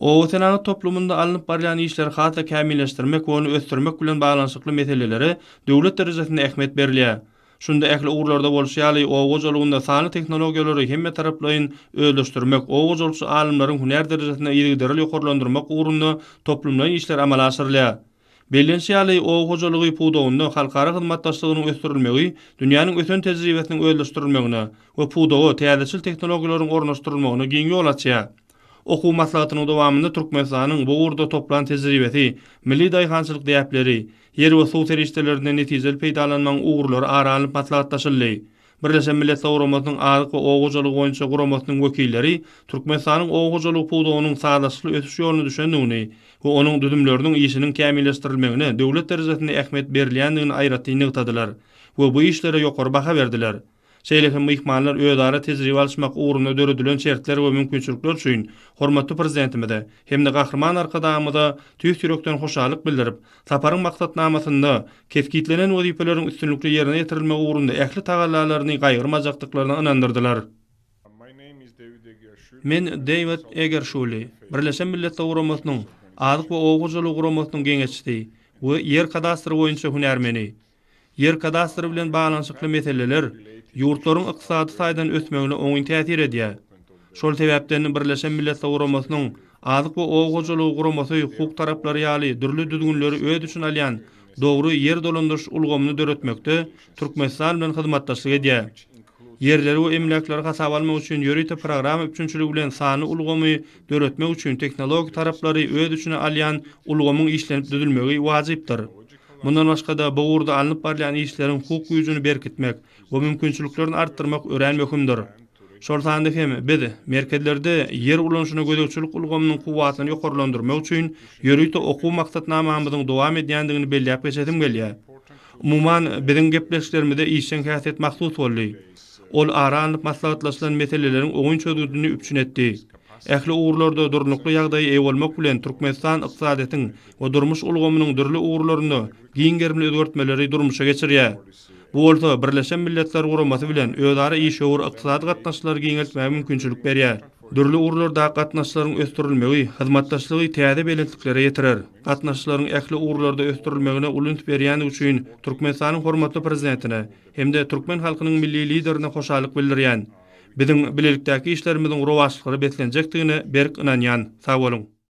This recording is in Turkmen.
Obasenagat toplumynda alnyp barylýan işleri has-da kämilleşdirmek we ony ösdürmek bilen baglanyşykly meselelere döwlet derejesinde ähmiýet berilýär. Şunda ähli ugurlarda bolşy ýaly, oba hojalygynda sanly tehnologiýalary hemmetaraplaýyn özleşdirmek, oba hojalykçy alymlaryň hünär derejesini yzygiderli ýokarlandyrmak ugrunda toplumlaýyn işler amala aşyrylýar. Bellenişi ýaly, oba hojalygy pudagynda halkara hyzmatdaşlygynyň ösdürilmegi dünýäniň ösen tejribesiniň özleşdirilmegine we pudaga täzeçil tehnologiýalaryň ornaşdyrylmagyna giň ýol açýar. Okuw maslahatynyň dowamynda Türkmenistanyň bu ugurda toplan tejribesi, milli daýhançylyk däpleri, ýer we suw serişdelerinden netijeli peýdalanmagyň ugurlary ara alnyp maslahatlaşyldy. Birleşen Millet Guramasynyň Azyk we oba hojalygy boýunça guramasynyň wekilleri Türkmenistanyň oba hojalygy pudagynyň sazlaşykly ösüş ýoluna düşendigini we onuň düzümleriniň işiniň kämilleşdirilmegine döwlet derejesinde ähmiýet berilýändigini aýratyn nygtadylar we bu işlere ýokary baha berdiler. Şeýle hem myhmanlar özara tejribe alyşmak ugrunda döredilen şertler we mümkinçilikler üçin hormatly Prezidentimize hem-de Gahryman Arkadagymyza tüýs ýürekden hoşallyk bildirip, Saparyň maksatnamasynda kesgitlenen wezipeleriň üstünlikli ýerine ýetirilmegi ugrunda ähli tagallalaryny gaýgyrmajakdyklaryna ynandyrdylar. Men Dewid Egerşuli, Birleşen Milletler Guramasynyň Azyk we oba hojalygy guramasynyň geňeşçisi we Ýer kadastry boýunça hünärmeni. Ýer kadastry bilen baglanyşykly meseleler ýurtlaryň ykdysady taýdan ösmegine oňyn täsir edýär. Şol sebäpden Birleşen Milletler Guramasynyň Azyk we oba hojalygy guramasy hukuk taraplary ýaly dürli düzgünleri öz üçin alýan dogry ýer dolandyryş ulgamyny döretmekde Türkmenistan bilen hyzmatdaşlyk edýär. Ýerleri we emläkleri hasaba almak üçin ýörite programma üpjünçiligi bilen sanly ulgamy döretmek üçin tehnologik taraplary öz içine alýan ulgamyň işlenip düzülmegi wajypdyr. Mundan başga-da, bu ugurda alnyp barylýan işleriň hukuk güýjüni berkitmek we mümkinçiliklerini artdyrmak örän möhümdir. Şol sanda hem biz merkezlerde ýer ulanyşyna gözegçilik ulgamynyň kuwwatyny ýokarlandyrmak üçin ýörite okuw maksatnamamyzyň dowam edýändigini belläp geçesim gelýär. Umuman, biziň gepleşiklerimize işjeň häsiýet mahsus boldy. Ol ara alnyp maslahatlaşylan meseleleriň oňyn çözgüdini üpjün etdi. Ähli ugurlarda durnukly ýagdaýa eýe bolmak bilen Türkmenistan ykdysadyýetiň we durmuş ulgamynyň dürli ugurlarynda giň gerimli özgertmeleri durmuşa geçirýär. Bu bolsa Birleşen Milletler Guramasy bilen özara işewür ykdysady gatnaşyklary giňeltmäge mümkinçilik berýär. Dürli ugurlardaky gatnaşyklaryň ösdürilmegi hyzmatdaşlygy täze belentliklere ýetirer. Gatnaşyklaryň ähli ugurlarda ösdürilmegine uly üns berýändigi üçin Türkmenistanyň hormatly Prezidentine hem-de türkmen halkynyň Milli Liderine hoşallyk bildirýän. Biziň bilelikdäki işlerimiziň rowaçlyklara beslenjekdigine berk ynanýan. Sag boluň!